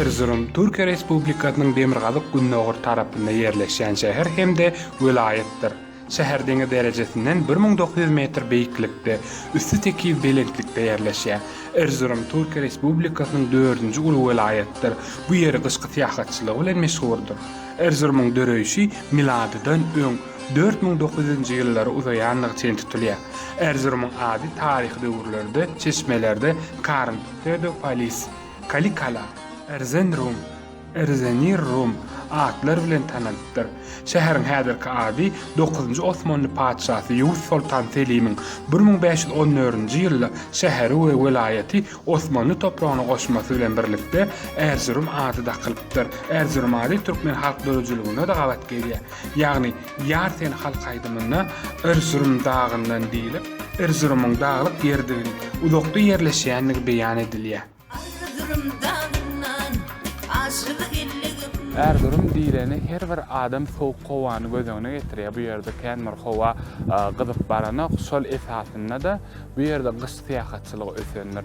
Erzurum, Türkiýe Respublikasynyň demirgazyk-gündogar tarapynda ýerleşýän şäher hem-de welaýatdyr. Şäher deňiz derejesinden bir müň dokuz ýüz metr beýiklikde, üsti tekiz belentlikde ýerleşýär. Erzurum, Türkiýe Respublikasynyň dördünji uly welaýatydyr. Bu ýeri gyşky syýahatçylygy bilen meşhurdyr. Erzurumyň döreýşi miladydan öň dört müň dokuz ýüzünji ýyllara uzaýandygy çen tutulýar. Erzurumyň ady taryhy döwürlerde çeşmelerde Karn, Pseudopolis, Kalikala, Erzenrum, Erzenirrum, atlar bilen tanalypdyr. Şäheriň häzirki ady dokuzynjy osmanly patyşasy Ýewuz soltan Selimiň bir müň bäş ýüz on dördünji ýylda şäheri we welaýaty Osmanly topragyna goşmasy bilen birlikde Erzurum ady dakylypdyr. Erzurum ady türkmen halk döredijiliginde-de gabat gelýär. Ýagny. Ýar sen halk aýdymynda Erzurum dagyndan diýlip, Erzurumyň daglyk ýerdigini, uzakda ýerleşýändigi beýan edilýär. Arzurum dagyndan aşygy elligim. Erzurum diýleni her bir adam sowuk howany göz öňüne getirýär. Bu ýerde kän bir howa gyzyp baranok. Şol esasynda-da bu ýerde gyş syýahatçylygy ösendir.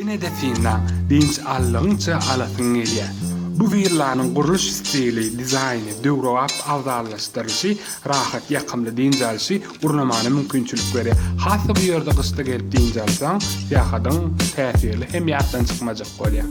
Ine-de synlaň, dynç aldygyňça alasyň gelýär. Bu willanyň gurluş stili, dizaýny, döwrebap abzallaşdyrylyşy, rahat, ýakymly dynç alşy, Gurnamana mümkinçilik berýär. Has-da bu ýerde gyşda gelip dynç alsaň, syýahatyň täsirli hem ýatdan çykmajak bolýar.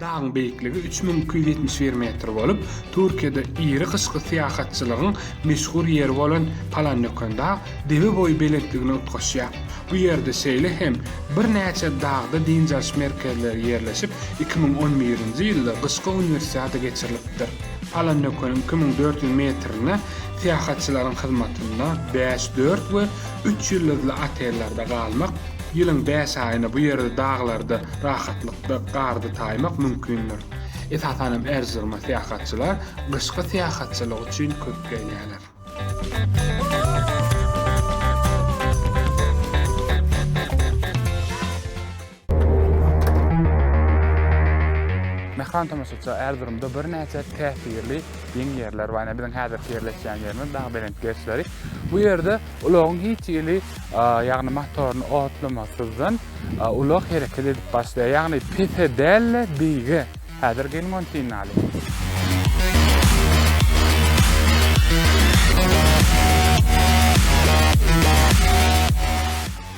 Dagyň beýikligi üç müň iki ýüz ýetmiş bir metr bolup, Türkiýede iri gyşky syýahatçylygyň meşhur ýeri bolan Palanýokendag debe boýy belentligine utgaşýar. Bu ýerde şeýle hem birnäçe dagda dynç alyş merkezleri ýerleşip, iki müň on birinji ýylda gyşky uniwersiada geçirilipdir. Palanýokeniň iki müň dört ýüz metrine syýahatçylaryň hyzmatynda bäş, dört we Üç ýyldyzly otellerde galmak, ýylyň bäş aýyny bu ýerde daglarda rahatlykda garda taýmak mümkindir. Esasan hem Erzuruma syýahatçylar gyşky syýahatçylyk üçin köp gelýärler. Mähriban tomaşaçylar, Erzurumda birnäçe täsirli ýeň ýerler bar. Ine biziň häzirki ýerleşýän ýerimiz Dagbelent gerşleri. Bu ýerde ulagyň hiç hili, ýagny motoryny otlamasyzdan ulag hereket edip başlaýar. Ýagny pese däl-de beýige. Häzir geliň ony synlalyň.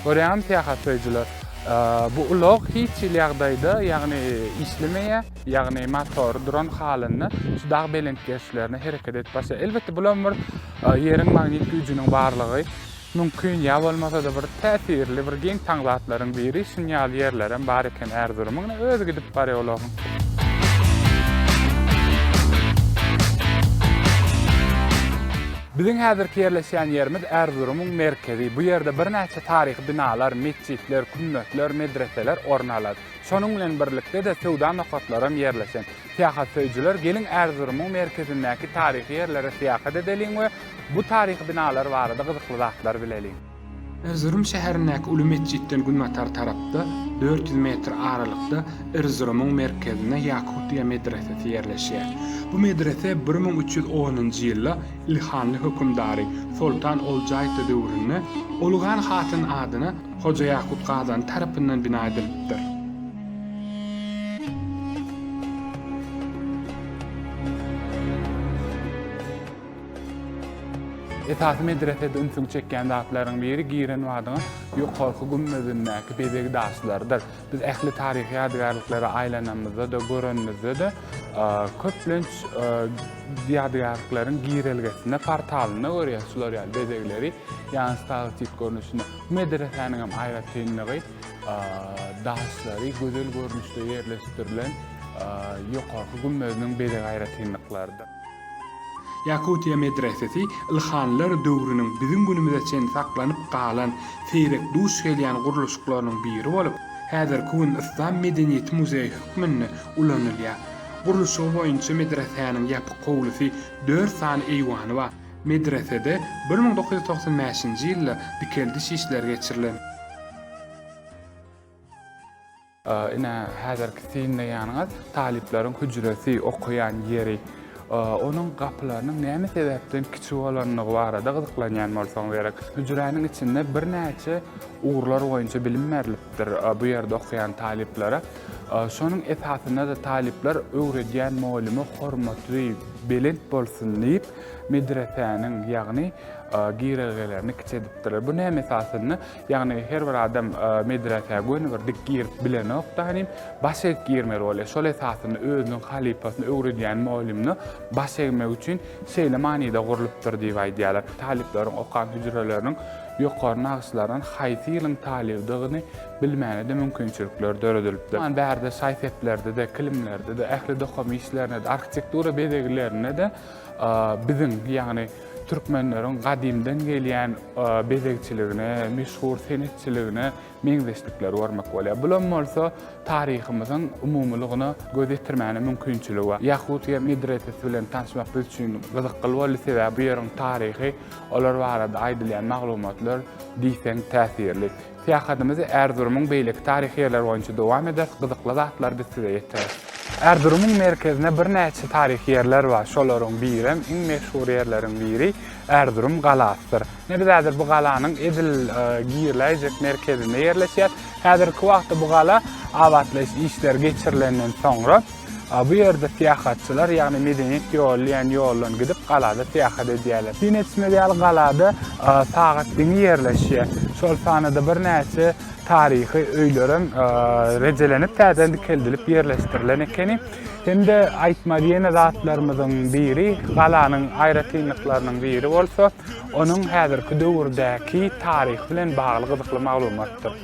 Görýäňmi, syýahatlaýjylar, bu ulag hiç hili ýagdaýda, ýagny işlemeýär, ýagny motory duran halynda şu dag belent gerşilerine hereket edip başlaýar. Elbetde, bulam bir Ýeriň magnit güýjüniň barlygy mümkin, ýa bolmasa-da bir täsirli, bir geň taň zatlaryň biri. Şuny ýaly ýerlerem bar eken Ärzurumyň, ine, özi gidip barýar ulagyň. Biziň häzirki ýerleşýän ýerimiz Erzurumyň merkezi. Bu ýerde birnäçe taryhy binalar, metjitler, kümmetler, medreseler orun alar. Şonuň bilen birlikde-de söwda nokatlaram ýerleşen. Syýahatsöýüjiler geliň Erzurumyň merkezindäki taryhy ýerlere syýahat edeliň we bu taryhy binalar barada gyzykly zatlar bileliň. Erzurum şäherindäki uly metjitden günbatar tarapda, dört ýüz metr aralykda Erzurumyň merkezinde Ýakutýa medresesi ýerleşýär. Bu medrese bir müň üç ýüz onunjy ýylda ilhanly hökümdary Soltan Oljaýta döwründe Ulugan hatyn adyna Hoja Ýakut Gazany tarapyndan bina edilipdir. Esasy medresede ünsüňi çekýän zatlaryň biri giren badyňa ýokarky gümmezindäki bezeg daşlarydyr. Biz ähli taryhy ýadygärliklere aýlanamyzda-da, görenimizde-de, köplenç ýadygärlikleriň girelgesinde, portalynda görýäs şular ýaly bezegleri, ýagny stalaktit görnüşinde. Bu medresäniň hem aýratynlygy, daşlary gözel görnüşde ýerleşdirilen ýokarky gümmeziniň bezeg aýratynlyklarydyr. Ýakutiýa medresesi Ilhanlar döwrüniň biziň günümize çenli saklanyp galan seýrek duş gelýän gurluşyklarynyň biri bolup, häzirki gün Yslam medeniýeti muzeýi hökmünde ulanylýar. Gurluşygy boýunça medresäniň ýapyk howlusy, dört sany eýwany bar. Medresede bir müň dokuz ýüz togsan bäşinji ýylda dikeldiş işleri geçirilen. Ine, häzirki synlaýanyňyz talyplaryň hüjresi, okaýan ýeri. Onuň gapylarynyň näme sebäpden kiçi bolandygy barada gyzyklanýan bolsaň gerek. Hüjräniň içinde birnäçe ugurlar boýunça bilim berlipdir bu ýerde okaýan talyplara. Şonuň esasynda-da talyplar öwredýän mugallymyň hormatly, belent bolsun diýip, medresäniň, ýagny girelgelerini kiçi edipdirler. Bu näme esasynda? Ýagny her bir adam medresä göni bir dik girip bilenokda hanym, baş egip girmeli bolýar. Şol esasynda özüniň halypasyny öwredýän mugallymyna baş egmek üçin şeýle manyda gurlupdyr diýip aýdýarlar. Talyplaryň okan hüjreleriniň ýokary nagyşlarynyň haýsy ýylyň talybydygyny bilmäne-de mümkinçilikler döredilipdir. Muňa bärde şaý-seplerde-de, kilimlerde-de, ähli dokuma işlerinde-de, arhitektura bezeglerinde-de Biziň, ýagny türkmenleriň gadymdan gelýän bezegçiligine, meşhur senetçiligine meňzeşlikleri görmek bolýar. Bulam bolsa taryhymyzyň umumylygyna göz ýetirmäne mümkinçiligi bar. Ýahudiýa medresesi bilen tanşmak biz üçin gyzykly boldy, sebäbi bu ýeriň taryhy, olar barada aýdylýan maglumatlar diýseň täsirli. Syýahatymyzy Erzurumyň beýleki taryhy ýerleri boýunça dowam ederis, gyzykly zatlary biz size ýetireris. Erzurumyň merkezinde birnäçe taryhy ýerler bar. Şolaryň birem, iň meşhur ýerleriň biri Erzurum galasydyr. Ine biz häzir bu galanyň edil giriläýjek merkezinde ýerleşýäs. Häzirki wagtda bu gala abatlaýyş işleri geçirilenden soňra, A bu ýerde syýahatçylar, ýagny medeniýet ýoly diýen ýoldan gidip, galada syýahat edýärler. Syn etmeli ýaly, galada sagat diňi ýerleşýär. Şol sanada birnäçe taryhy öýlerem rejelenip, täzeden dikeldilip ýerleşdirilen ekeni. Hem-de aýtmaly ýene zatlarymyzyň biri, galanyň aýratynlyklarynyň biri bolsa, onuň häzirki döwürdäki taryhy bilen bagly gyzykly maglumatdyr.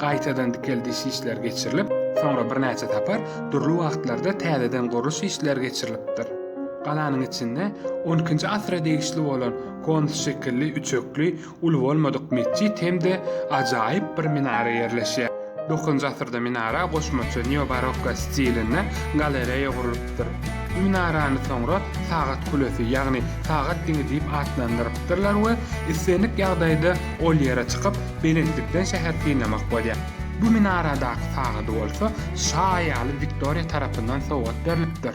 gaýtadan dikeldiş işleri geçirilip, soňra birnäçe sapar dürli wagtlarda täzeden gurluş işleri geçirilipdir. Galanyň içinde on ikinji asyra degişli bolan konus şekilli üçekli, uly bolmadyk metjit hem-de ajaýyp bir minara ýerleşýär. Dokuzynjy asyrda minara goşmaça neobarokko stilinde galereýa gurlupdyr. Bu minarany soňra Sagat kulesi, ýagny Sagat diňi diýip atlandyrypdyrlar we islendik ýagdaýda ol ýere çykyp, belentlikden şäher synlamak bolýar. Bu minaradaky sagady bolsa şa aýaly Wiktoriýa tarapyndan sowgat berlipdir.